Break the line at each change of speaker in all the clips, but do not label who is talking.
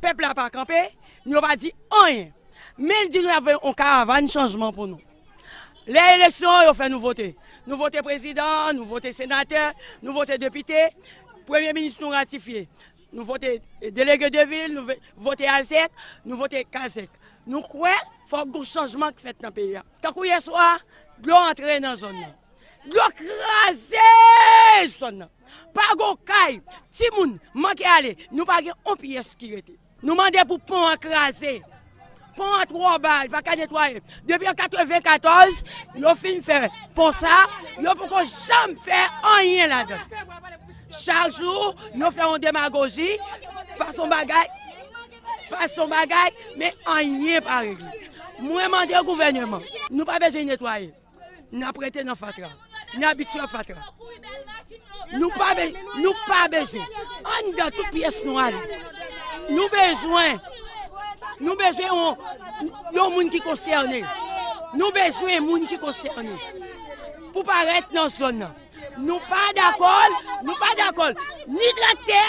Pèp la pa kanpe, nou yo pa di anyen. Men di nou y ap voye yon karavan chanjman pou nou. Lè eleksyon an yo fè nou vote. Nou vote prezidan, nou vote senatè, nou vote depite, premye minis nou ratifye. Nou vote delege de vil, nou vote alsèk, nou vote kasèk. Nou kwè fòk gon chanjman k fèt nan peyi a. Tankou yèswa, dlo antre nan zòn nan. Dlo kraze zòn nan. Pa gon kay, timoun manke ale, nou pa gen on pyès ki rete. Nou mande pou pon an kraze. Pon an twò ba, li pa ka netwaye. Depi an 94, yo fin fè pon sa, yo poko janm fè anyen ladan l. Chak jou, yo fè yon demagoji, pa son bagay, pa son bagay, men anyen pa regle. Mwen mande gouvèneman, nou pa bezwen netwaye. N ap rete nan fatra. N abitye a fatra. Nou pa bezwen. Anndan tout pyès nou ale. Nou bezwen. Nou bezwen yon moun ki konsène. Nou bezwen moun ki konsène. Pou parèt nan zòn nan. Nou pa dakòl, nou pa dakòl, ni traktè,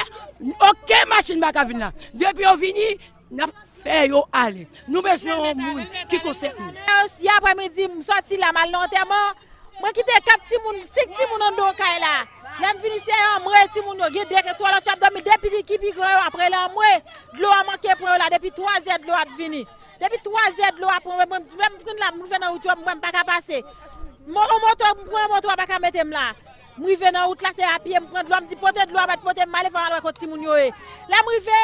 oken machin baka vin la. Depi yo vini. Nap fè yo ale. Nou bezwen yon moun ki konsène. Si aprè midi
m soti la m al nan antèman, mwen kite 4 timoun, 5 timoun anndan kay la. Lè m vini se anmwe timoun yo. Gen 2 twa lòt yo ap dòmi, 2 pi ki pi gran yo ap rele anmwe. Dlo a manke pran yo la depi 3 zè dlo ap vini. Depi 3 zè dlo a pran mwen, mwen lè m vin la m rive nan wout yo mwen m paka pase. M pran yon moto, m pran yon moto a paka mete m la. M rive nan wout la, se a pye m pran dlo a, m di pote dlo a mèt pote m male fò m al wè kot timoun yo ye. Lè m rive,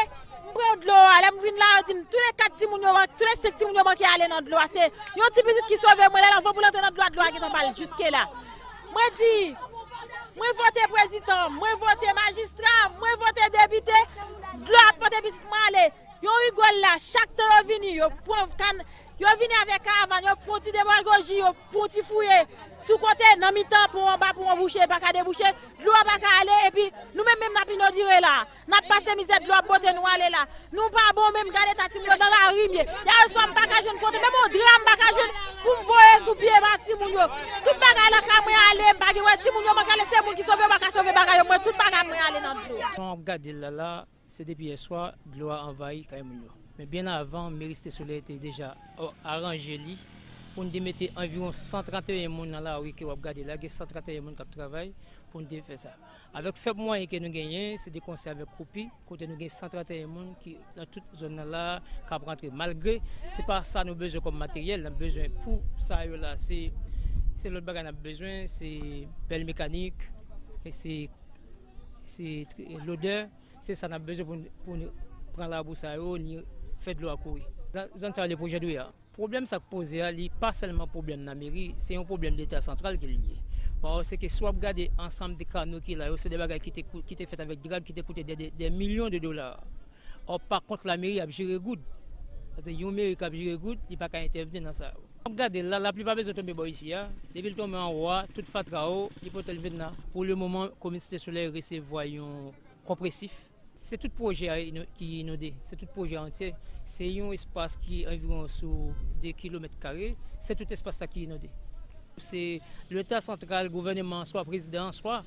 m pran dlo a, lè m vin la yo di m tou le 4 timoun yo, tou le 5 timoun yo manke ale nan dlo a, se yon ti pitit ki sove mwen, lè l anvan pou l antre nan dlo a, dlo a gentan ba l jiske la. Mwen di, mwen vote prezidan, mwen vote majistra, mwen vote depite, dlo a ap pote pitit mwen ale. Yon rigòl la, chak tan yo vini, yo pran kann, Yo vini avèk karavan yo, fon ti demagoji, yo fon ti fouye sou kote, nan mitan, pon anba, pon an bouche, pa ka debouche, dlo a pa ka ale, epi nou menm menm nap inodire la a. Nap pase mizè, dlo ap bote nou ale la a. Nou pa bon menm, gad eta timoun yo, nan lari m ye. Yè swa m pa ka jwenn kote, menm yon dra m pa ka jwenn pou m voye sou pye ba timoun yo. Tout bagay lakay mwen ale, m pa gen wè timoun yo mank ale, se moun ki sove yo pa ka sove bagay yo, mwen tout bagay mwen ale nan dlo. Jan wap gade l la la,
Se depi yè swa dlo a anvayi kay moun yo. Men byen avan, meri Site Solèy te deja aranje li pou n te mete anviwon 131 moun nan lari ke w ap gade la. Gen 131 moun k ap travay pou n te fè sa. Avèk fèb mwayen ke nou genyen, se de konsè avèk koupi, kote nou gen 131 moun ki nan tout zòn nan la a k ap rantre. Malgre se pa sa nou bezwen kòm materyèl, n ap bezwen pou sa yo la, se lòt bagay n ap bezwen, se pèl mekanik, se Se lodè, se sa nap bezwen pou pou nou pran labou sa yo ni fè dlo a kouri. Zòn sa yo rele pwojè dwe a. Pwoblèm sa k poze a li pa sèlman pwoblèm nan meri, se yon pwoblèm leta santral ke li ye. Paske si wap gade ansanm de kano ki la yo se de bagay ki te ki te fèt avèk drag ki te koute dè dè milyon de dola. Ò pa kont lameri ap jere goud. Pase yon meri kap jere goud li pa ka entèvni nan sa yo. Wap gadel la lapli pa bezwen tonbe bò isi a depil tonbe anwo a tout fatra yo li potel vin la. Pou le moman komin site solèy resevwa yon konpresif. Se tout pwojè a ki inonde, se tout pwojè a antye, se yon espas ki anviwon sou 2 kilomèt kare, se tout espas sa ki inonde. Se leta santral, gouvèneman an swa prezidan an swa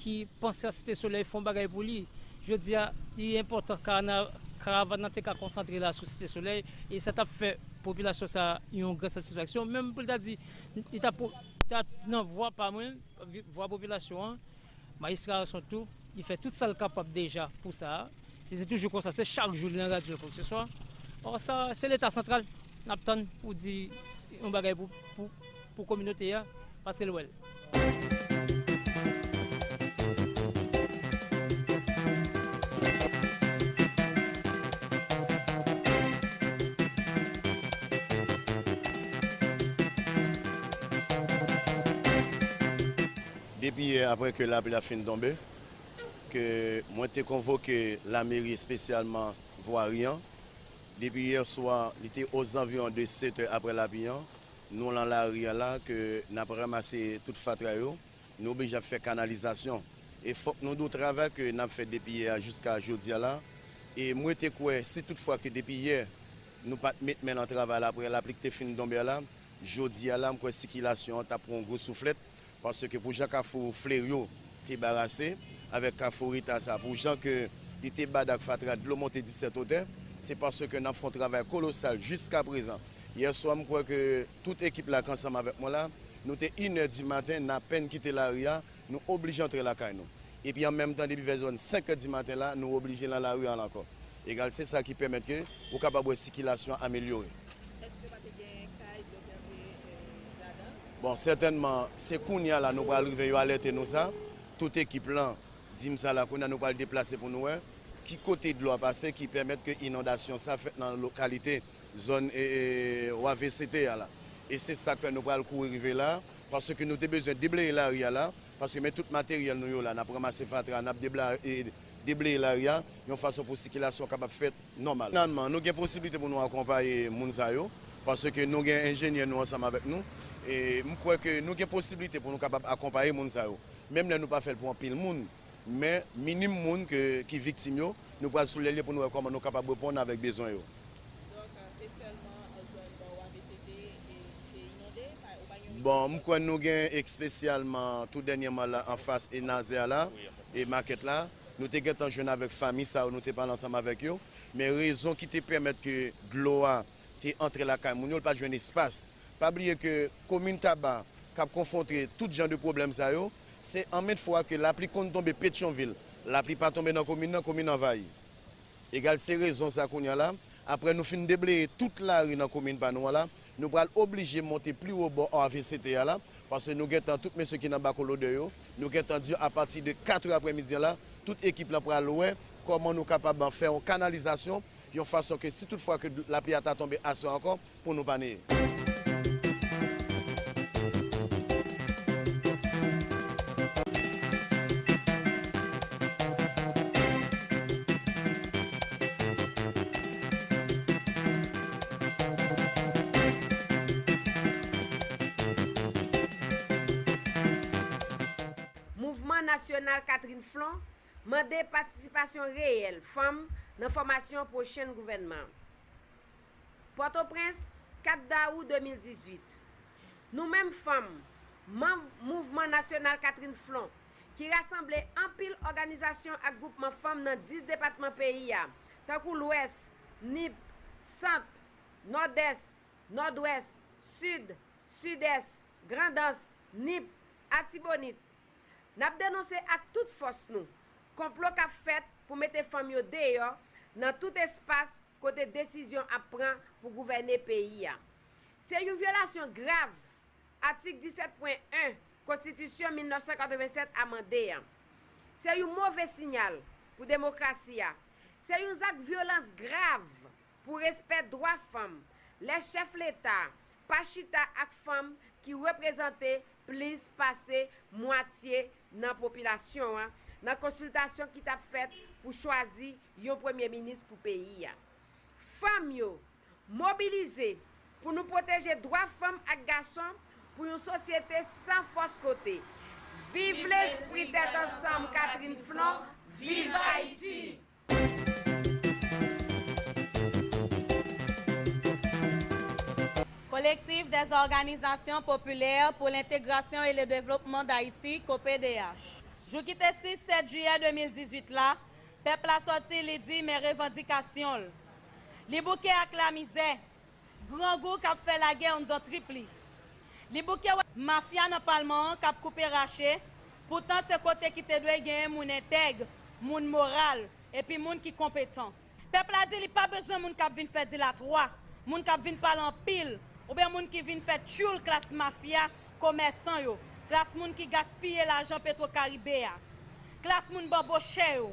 ki panse a site solèy fon bagay pou li. Jodi a, li enpòtan karavàn nan te ka konsantre la sou Site Solèy e sa t ap fè popilasyon sa a yon gran satisfaksyon. Menm pou l ta di, li t ap nan vwa pa mwen, vwa popilasyon an, Majistra Arson tou, li fè tout sa l kapab deja pou sa a. Si se toujou konsa, se chak jou li nan radyo kòkeseswa. Ò sa, se Leta santral n ap tann pou di yon bagay pou kominote a paske l wè l.
Depi yè aprè ke lapli a fin tonbe, ke mwen te konvoke lameri espesyalman vwari an, depi yè swa li te ozanviwon de 7 è aprè lapli an, Nou lan lari a la ke nap ramase tout fatra yo, nou oblije ap fè kanalizasyon. E fòk nou di w travay ke nap fè depi yè a jiska jodi a la. E mwen te kwè si tout fwa ke depi yè nou pat met men lan travay la aprè lapli ki te fin donbe a la, jodi a la m kwè sikilasyon an tap pran yon gwo souflèt. Paske pou jan kafou Fleryo te barase avèk kafou Rita sa, pou jan ke li te bad ak fatra dlo monte disèt otè, se paske nap fon travay kolosal jiska prezan. Yè swa mkwè ke tout ekip la k ansanm avèk mwen la, nou te inè di maten napenn kite lari a, nou oblije antre lakay nou. Epi an menm tan depi vè zòn senkè di maten la, nou oblije lan lari an ankò. Egal se sa ki pèmèt ke ou kapab wè sikilasyon an amelyore. Eske pa te
gen kay dlo ki antre ladan? Bon sètènman
se kounya la nou pral rive yo alète nou sa, tout ekip lan di m sa la kounya nou pral deplase pou nou wè ki kote dlo a pase ki pèmèt ke inondasyon sa fèt nan lokalite zòn wavct a la e se sak fè nou pral kouri rive la paske nou te bezwen debleye lari a la Paske men tout materyèl nou yo la, n ap ranmase fatra a, n ap debleye lari a, yon fason pou sikilasyon kapab fèt nòmal. Finalman, nou gen posiblite pou nou akonpaye moun sa yo, paske nou gen enjenyè nou ansanm avèk nou. E m kwè ke nou gen posiblite pou nou kapab akonpaye moun sa yo. Menm lè nou pa fè l pou anpil moun, men minim moun ki viktim yo, nou pral sou lè l yo pou nou wè kòman nou kapab reponn avèk bezwen yo. Donk
se sèlman zòn nò a ke se te te inonde? Ou pa gen yon ide? Bon, m kwè nou gen
espesyalman tou dènyèman la anfas Enaze a la, e makèt la, nou te gentan jwenn avèk fanmi sa yo, nou te pale ansanm avèk yo, men rezon ki te pèmèt ke dlo a te antre lakay moun yo, l pa t jwenn espas. Pa bliye ke komin Taba k ap konfwontre tout jan de pwoblèm sa yo, se anmèt fwa ke lapli konn tonbe Petyonvil, lapli pa tonbe nan komin nan, komin anvayi. Egal se rezon sa kounye a la, aprè nou fin debleye tout lari nan komin pa nou an la, nou pral oblije monte pli wo bò RVCT a la, paske nou gentan, tout mesye ki nan Bako Lodè yo, nou gentan di yo apati de 4 è aprè midi an la, tout ekip lan pral wè kòman nou kapab fè yon kanalizasyon, yon fason ke si tout fwa ke lapli a ta tonbe aswè ankò, pou nou pa neye.
Mouvman Nasyonal Catherine Flon mande patisipasyon reyèl fanm nan fòmasyon pwochen gouvènman an. Pòtoprens, 4 dawou 2018, Nou menm fanm, manm Mouvman Nasyonal Catherine Flon, ki rasanble anpil òganizasyon ak gwoupman fanm nan 10 depatman peyi a, tankou Lwès, Nip, Sant, Nòdès, Nòdwès, Sid, Sidès, Grandans, Nip, Atibonit, n ap denonse ak tout fòs nou, konplo k ap fèt pou mete fanm yo deyò nan tout espas kote desizyon ap pran pou gouvène peyi a. Se yon vyolasyon grav atik 17 pwen 1 konstitisyon 1987 amande an. Se yon move sinyal pou demokrasi a. Se yon zak vyolans grav pou respè dwa fanm lè chèf leta pa chita ak fanm ki reprezante plis pase mwatye nan popilasyon an nan konsiltasyon ki t ap fèt pou chwazi yon premye minis pou peyi a. Fanm yo, mobilize pou nou pwoteje dwa fanm ak gason pou yon sosyete san fòs kote. Viv lespri tèt ansanm Catherine Flon, viv Ayiti!
Collectif des Organisations Populaires pour l'Intégration et le Développement d'Haïti, COPDH, jou ki te 6, 7 jiyè 2018 la, Pèp la sòti li di men revandikasyon l. Li bouke ak lamizè, grangou k ap fè lagè anndan trip li. Li bouke wè mafya nan palman an k ap koupe rache, poutan se kote ki te dwe genyen moun entèg, moun moral epi moun ki konpetan. Pèp la di li pa bezwen moun k ap vin fè dilatwa, moun k ap vin pale anpil oubyen moun ki vin fè tyoul klas mafya komèsan yo, klas moun ki gaspiye lajan petwo karibe a, klas moun banbochè yo,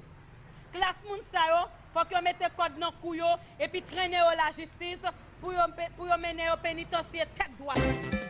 klas moun sa yo fòk yo mete kòd nan kou yo epi trennen yo lajistis pou yo mennen yo penitansye tèt dwat.